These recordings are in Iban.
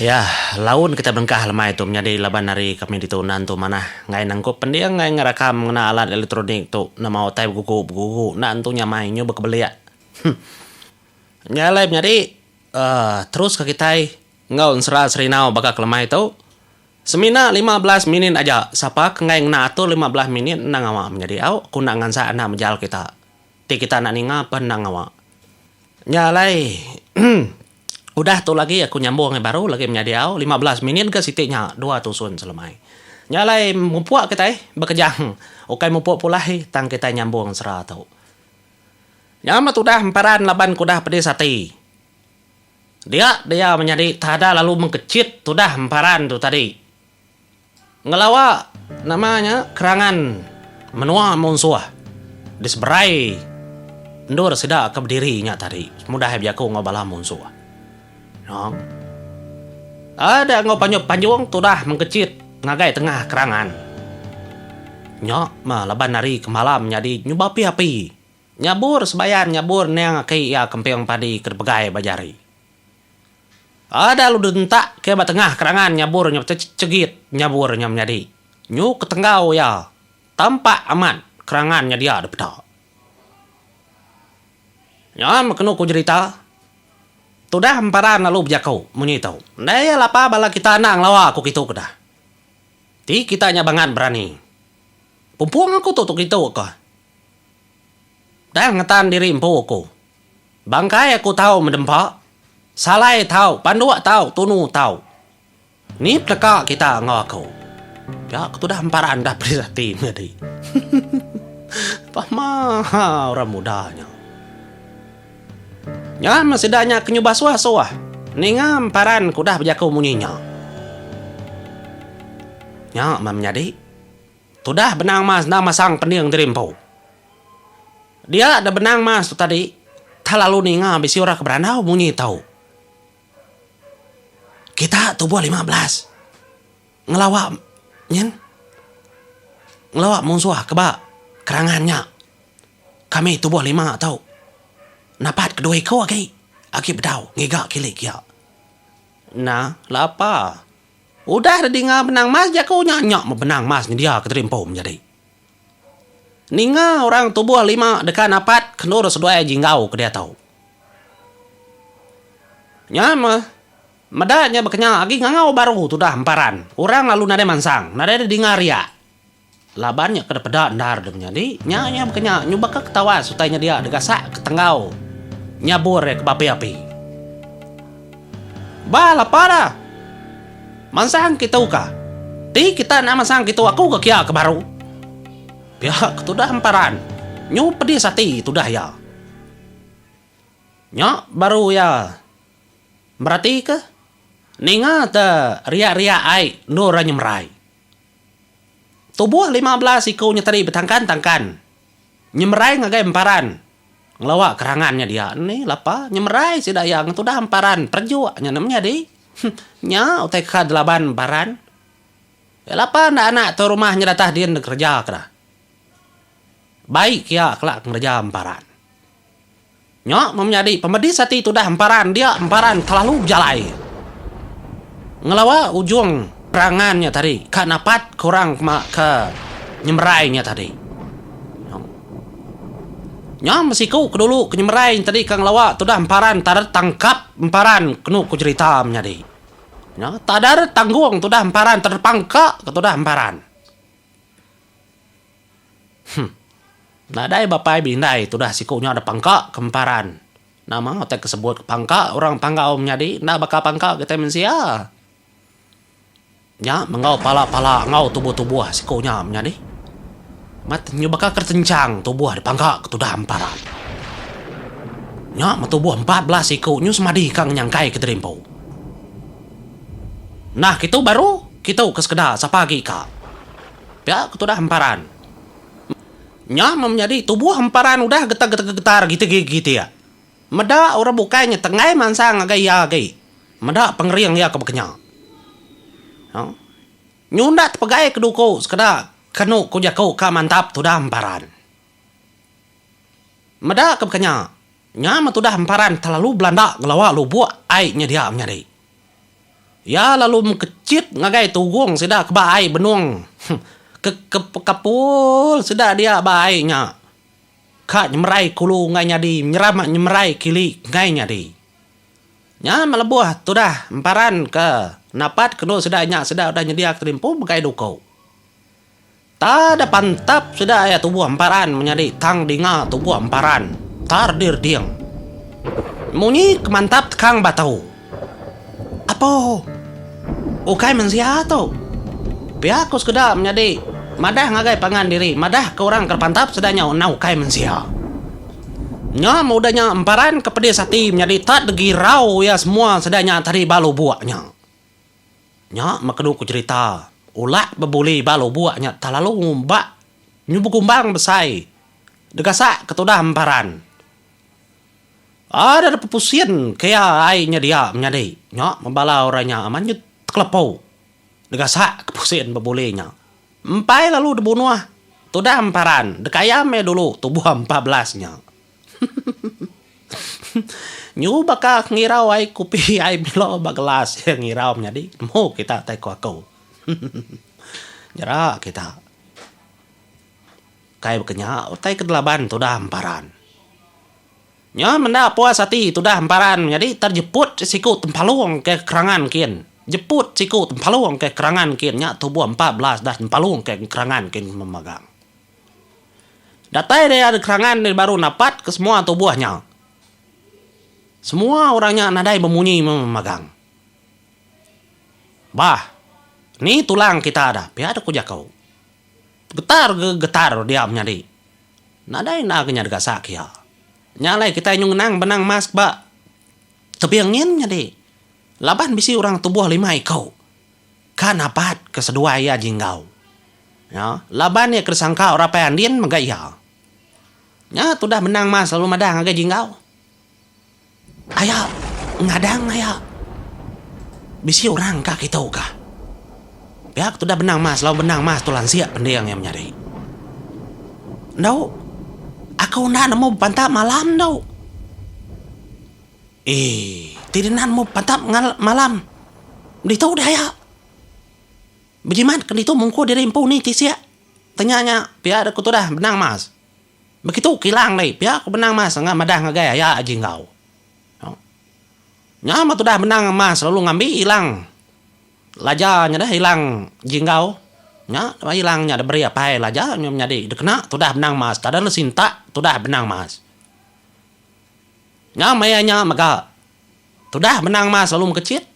Iya, laun kitai belengkah lemai tu menyadi laban ari kami ditu nan tu manah enggai nangkup pending ai ngerakam ngena alat elektronik tu enda mau utai begugu-begugu enda entu nyamai nyu bekebelik. Heh. Nya alai menyadi uhh teruska kitai enggau ensera serinau baka kelemai tu. Semina lima belas minit aja, sapa ke enggai ngena atur lima belas minit endang awak menyadi au ku enda ngansak enda mejal kita. Ti kita enda ninga peh endang awak. Nya alai udah tu lagi aku nyambung ngai baru lagi menyadi au lima belas minit ga siti nya dua tusun selemai. Nya alai mupuk kitai bekejang ukai mupuk pulai tang kitai nyambung sera tu. Nya meh tudah emparan laban ke udah pedis ati. Dia dia menyadi tada lalu mengkechit tudah emparan tu tadi. Ngelawa nama nya kerangan menua munsuh diseberai endur sida ke bediri nya tadi mudah ai bejaku enggau bala munsuh. Nang ada enggau panjung panjung tudah mengkechit ngagai tengah kerangan nya meh laban ari kemalam nyadi nyuba api-api. Nyabur sebayan nyabur niang aki iya kemping padi ke dipegai ba jari. Ai da lalu direntak ke ba tengah kerangan nyabur nya betechegit nyabur nya menyadi nyu ke tenggau iya tampak amat kerangan nya dia dipeda. Nyuan meh kenu ku jerita tudah emparan lalu bejaku munyi tu. Enda iya lapa bala kita enda ngelawa aku kitu ke dah. Ti kita nya bangat berani. Pumpung aku tu tu kitu ka. Tang ngetan diri empu aku. Bangkai aku tau medempa, Salai tau, Panduk tau, Tunu tau. Ni peneka kita enggau aku? Pia ke tudah empa randap peris ati menyadi. Pama orang muda nya. Nyam sida nya ke nyubah suah-suah ninga emparan ke udah bejaku munyi nya. Nya meh menyadi. Tudah benang mas enda masang pening diri empu. Dia da benang mas tu tadi tah lalu ninga bisi orang ke berandau munyi tau. Kita tubuh lima belas ngelawa nyin ngelawa munsuh ke ba kerangan nya. Kami tubuh lima tau napat ke dua iku agi agi bedau ngiga kilik iya. Nah lapa. Udah deh dinga benang mas jaku nya nyok meh benang mas nyedia ke teri empu menjadi. Ninga orang tubuh lima deka napat kendur seduai jinggau ke diatu. Nya meh meda nya bekenya agi ngangau baru tudah emparan orang lalu nadai mansang nadai deh dinga riak. Laban nya kada peda endar deh menyadi. Nya iya bekenya nyubaka ketawa sutai nya dia degasak ke tenggau nyabur iya ke bapi-api. Bah lapa da. Mansang kitu ka. Ti kita enda mansang kitu aku ke kia ke baru. Pia ke tudah emparan. Nyu pedis ati tudah iya. Nya baru iya meratika ninga te riak-riak ai endur iya nyemerai. Tubuh lima belas iku nyeteri betangkan-tangkan nyemerai ngagai emparan ngelawa kerangan nya dia. Ni lapa nyemerai sida iya ngetudah emparan perejuk nya nem nyadi. Nya utai ka delaban emparan. Iya lapa enda anak tu rumah nya datah din dikereja kena. Baik iya kela ngereja emparan. Nya menyadi pemedis ati tudah emparan dia emparan kelalu bejalai ngelawa ujung perangan nya tadi ka napat ke orang ke ke nyemerai nya tadi. Nya besiku ke dulu ke nyemerai nya tadi ka ngelawa tudah emparan tader tangkap emparan kenu ku jerita menyadi nya tader tanggung tudah emparan tader pangka ke tudah emparan. Huh. Nadai bapai beindai tudah siku nya da pangka ke emparan. Nama utai ke sebut pangka orang panggau menyadi enda baka pangka kitai mensia. Nya menggau pala-pala enggau tubuh-tubuh siku nya menyadi. Mat nyu baka ke tenchang tubuh da pangka ke tudah emparan. Nya meh tubuh empat belas siku nyu semadi ka ngenyangkai ke terimpu. Nah kitu baru kitu ke sekeda sapa agi ka. Pia ke tudah emparan. Nya meh menyadi tubuh emparan udah getar-getar gitik-gitik. Meda orang bukai nya tenggai mansang ngagai iya agi. Meda pengering iya ke bekenya. Nyunda tepegai ke duku sekeda kenu ku jaku ka mantap tudah emparan. Meda ke bekenya, nya meh tudah emparan telalu belanda ngelawa lubuk ai nyedia menyadi. Iya lalu mekechit ngagai tugong sida ke ba ai benung ke kepekapul sida dia ba ai nya ka nyemerai kulu enggai nyadi nyerama nyemerai kili enggai nyadi. Nya meh lebuh tudah emparan ke napat ke endu sida nya sida udah nyediaka limpu begai duko. Tada pantap sida iya tubuh emparan menyadi tang dinga tubuh emparan tar dirding. Munyi ke mantap tekang batu. Apo ukai mensia tu. Pia ku sekeda menyadi madah ngagai pangan diri madah ke orang ke pantap sida nya enda ukai mensia. Nya meh udah nya emparan ke pedis ati menyadi tada girau iya semua sida nya tadi ba lubuk nya. Nya meh kenu ku cerita, ulak bebuli ba lubuk nya tah lalu ngumbak nyubu kumbang besai degasak ke tudah emparan. Ada deh pepusin ke iya ai nya dia menyadi. Nya meh bala orang nya amat nyut tekelepo degasak ke pusin bebuli nya. Empai lalu dibunuh tudah emparan deka iya meh dulu tubuh empat belas nya. Nyu baka ngirau ai kupi ai milo ba gelas iya ngirau menyadi nemu kita tai ko aku. Nyera kita kai bekenya utai ke delaban tudah emparan. Nyo menda puas ati tudah emparan menyadi terjeput siku tempalong ke kerangan kin, jeput siku tempalong ke kerangan kin nya tuboh empat belas dah tempalong ke kerangan kin memagang. Datai dia ari kerangan dia baru napat ke semua tubuh nya. Semua orang nya nadai bemunyi magang. Bah, ni tulang kita dah, pia deh ku jaku. Getar ke getar dia menyadi. Nadai enda ke nya digasak iya. Nya alai kitai nyu ngenang benang emas ke ba tebing nyin nyadi laban bisi orang tubuh lima iku. Ka napat ke seduai iya jinggau. Nya, laban iya ke disangka orang apai Andin mega iya. Nya tudah benang mas lalu madah ngagai jinggau. Aya ngadang aya. Bisi orang ka kitu ka. Pia ke tudah benang mas lalu benang mas tu lansik pending iya menyadi. Endo, aku enda nemu bepantap malam endo. Ee, ti denan mu patap ngal malam ditu deh aya. Bejimat ke ditu mungku diri empu ni tisik. Tanya nya pia deh ku tudah benang mas. Begitu kilang deh pia ku benang mas enggau madah ngagai aya aji enggau. Au. Nya meh tudah benang mas lalu ngambi ilang laja nya deh ilang ji enggau. Nya meh ilang nya diberi apai laja nya menyadi dikena tudah benang mas. Tada le sintak tudah benang mas. Nya maya nya mega tudah menang mas lalu mekechit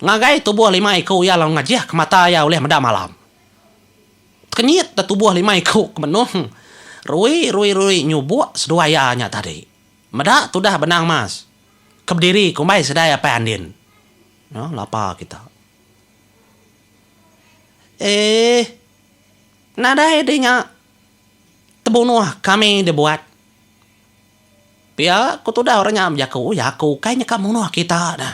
ngagai tubuh lima iku iya lalu ngajih ke mata iya ulih meda malam. Tekenyit da tubuh lima iku ke menung rui rui rui nyubuk seduai iya nya tadi. Meda tudah benang mas ke bediri kumbai sidai apai andin. Nya lapa kita. Eeh. Nadai deh nya tebunuh kami dibuat. Pia ku tudah orang nya bejaku, Jaku ukai nyeka munuh kita da.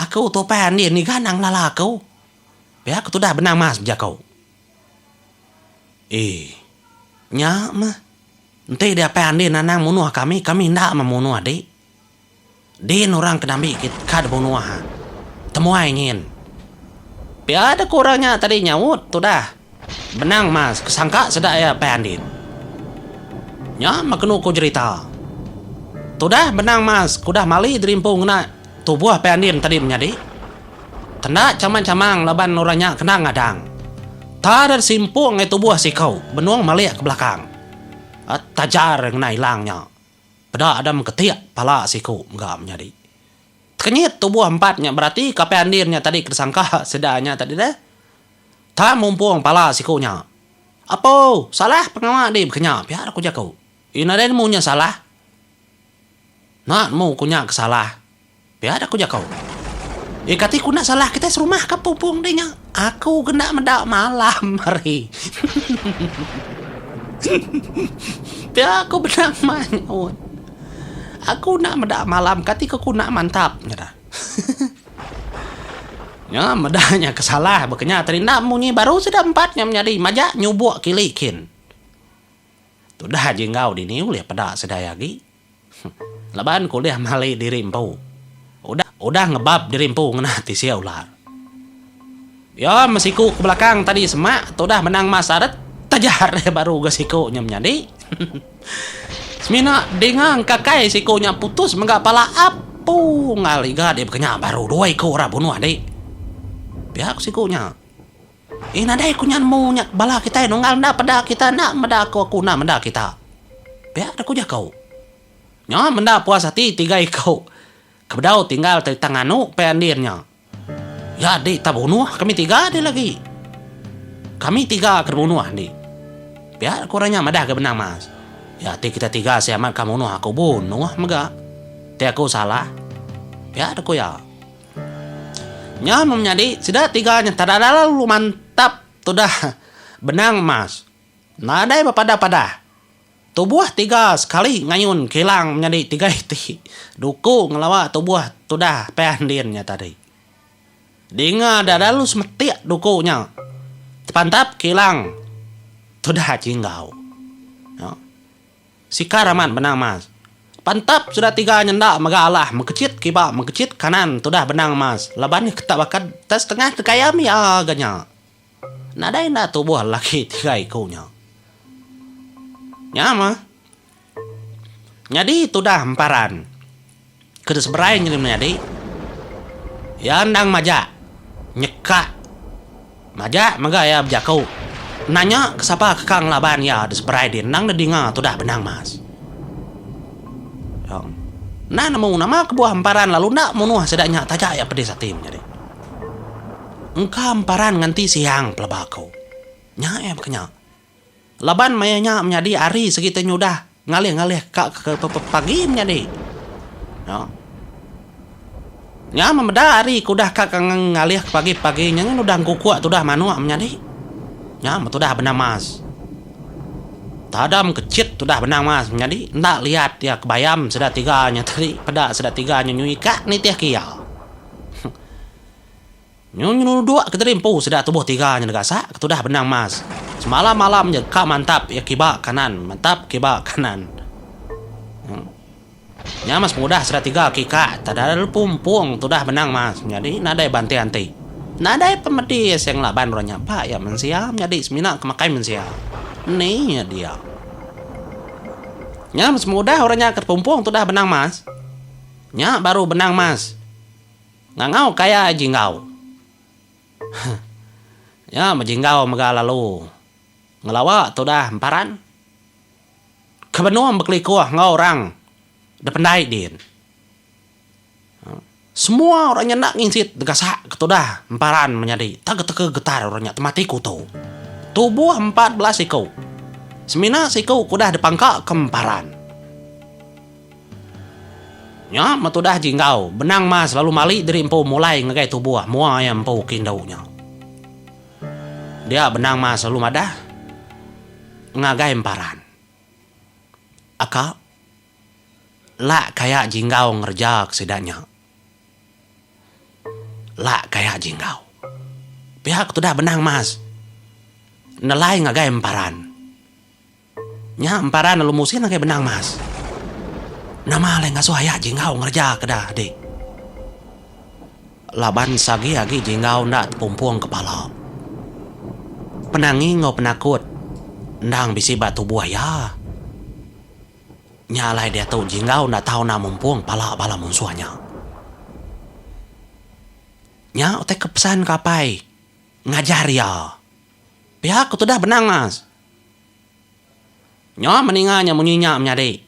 Aku tu upai andi ngiga endang lala aku. Pia ku tudah Benang Mas bejaku. Ee. Nya meh. Enti diapai andi nandang munuh kami, kami enda meh munuh dik. Din orang ke nambi kit ka debunuh ha. Temuai nyin. Pia deh ku orang nya tadi nyaut tudah. Benang mas ke sangka seda iya pan din. Nya meh kenu ku jerita. Tudah benang mas ke udah mali dirimpu ngena tubuh pan din tadi menyadi. Tenda chamang-chamang laban orang nya kena ngadang. Ta deh simpung ngai tubuh siku benung malik ke belakang. Tajar ngena ilang nya. Peda ada mengketik pala siku mega menyadi. Tekenyit tubuh empat nya berati kapai andin nya tadi ke disangka sida nya tadi deh. Tang mumpung pala siku nya. Apo, salah pengawa dih bekenya pia ku jaku. Ina deh nemu nya salah. Enda nemu ku nya ke salah. Pia aku jako. Ye kati ku enda salah kitai serumah ka pungpung deh nya. Aku ke enda meda malam hari. Pia aku benang manyut. Aku enda meda malam kati ke ku enda mantap nyerah. Nya meda nya ke salah baka nya terindam munyi baru sida empat nya menyadi majak nyubok kili kin. Tudah ji enggau dini ulih peda sedia agi. Laban ku ulih mali diri empu. Udah udah ngebab diri empu ngena tisia ular. Iya mesiku ke belakang tadi semak tudah benang mas saret taja reh baru ga siku nya menyadi. Semina dinga engkakai siku nya putus mega pala apu ngal iga dibekenya baru dua iku ra bunuh adi. Pia ku siku nya. Eh nadai ku nya nemu nya bala kitai nunggal enda peda kita enda meda aku aku enda meda kita. Pia deh ku jaku. Nya menda puas ati tiga iku ke bedau tinggal ti tang anu pia endin nya. Ya di tau bunuh kami tiga deh lagi. Kami tiga ke dibunuh di. Pia ku orang nya madah ga benang mas. Ya ati kita tiga sia amat ka munuh aku bunuh mega. Ti aku salah. Pia deh ku iya. Nya meh menyadi sida tiga nya tada lalu mantap tudah benang emas. Nadai bepadah-padah. Tubuh tiga sekali ngayun kilang menyadi tiga iti duku ngelawa tubuh tudah pia ndin nya tadi. Dinga enda lalu semetik duku nya tepantap kilang tudah Jinggau. Sikar amat benang mas. Pantap sudah tiga nyenda mega alah mekecit kiba mekecit kanan tudah benang mas laban nya ketak bakad tak setengah ke gayam ia ga nya. Nadai enda tubuh lelaki tiga iku nya. Nya mah. Nyadi tudah emparan. Ke diseberai nyengeri menyadi, iya endang majak nyeka majak mega iya bejaku nanya ke sapa ke ka ngelaban iya diseberai di endang didinga tudah benang mas. Tang nah nemu nama kebuah emparan lalu enda munuh sida nya taja iya pedis ati menyadi. Engka emparan nganti siang pelaba aku. Nya iya baka nya. Laban maya nya menyadi hari sigi te nyudah ngalih-ngalih ka ke pepagi menyadi. Nya. Nya memeda hari ke udah ka ke ngalih ke pagi-pagi nya nyen udah engkukuk tudah manuk menyadi. Nya betudah benang mas. Tadam ke chit tudah benang mas menyadi enda liat iya ke bayam sida tiga nya tadi peda sida tiga nya nyui ka nitih ke iya. Nyu nyeluduk kediri empu sida tubuh tiga nyenegasak ketudah benang mas. Semalam malam ja ka mantap iya kiba kanan mantap kiba kanan. Nya mas pengudah sida tiga ke ka tadal lepu empung tudah benang mas nyadi nadai banting anti. Nadai pemedi se ngelaban orang nya ba iya mensia menyadi semina ke makai mensia. Ni iya dia. Nya mas pengudah orang nya ke tepumpung tudah benang mas. Nya baru benang mas. Ngangau ke aya Jinggau. Huh. Nya meh Jinggau mega lalu ngelawa tudah emparan. Ke benung bekelikuh enggau orang dependai din. Huh. Semua orang nya enda nginsit degasak ke tudah emparan menyadi tega tega getar orang nya temati kuto. Tubuh empat belas siku. Semina siku ke udah dipangka ke emparan. Nya meh tudah ji enggau, benang mah selalu mali diri empu mulai ngagai tubuh mua iya empu ke indu nya. Dia benang mah selalu madah ngagai emparan. Aka, lak ka iya ji enggau ngereja ke sida nya. Lak ka iya ji enggau. Pia ke tudah benang mah nelai ngagai emparan. Nya emparan lalu Musin ngagai benang mas, Nama alai ngasuh ayak Jinggau ngereja ke da di? Laban sagi agi Jinggau enda tepumpung kepala. Penangi enggau penakut endang bisi ba tubuh iya. Nya alai diatu Jinggau enda tau enda mumpung pala bala munsuh nya. Nya utai ke pesan ke apai ngajar iya. Pia ku tudah benang mas. Nyo meninga nya munyi nya menyadi.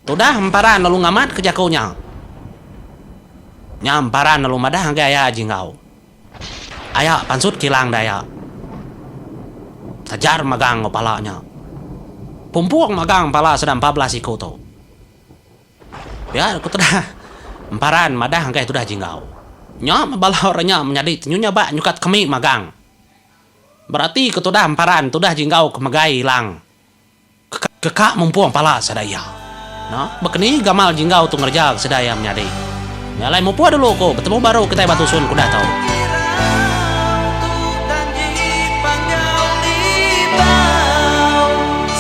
Tudah emparan lalu ngamat ke jaku nya. Nya emparan lalu madah ngagai aya Jinggau. Aya pansut kilang deh aya. Sajar magang enggau pala nya. Pumpung magang pala sida empat belas iku tu. Pia ku tudah emparan madah ngagai tudah Jinggau. Nya mebalau re nya menyadi tenyunyah ba nyukat kami magang. Berati ke tudah emparan tudah ji enggau ke megai ilang ke ke ka mumpung pala sada iya. No, bekeni gamal ji enggau tu ngereja ke sida iya menyadi. Meh alai mupuh dulu ku betemu baru kitai ba tusun ke udah tu.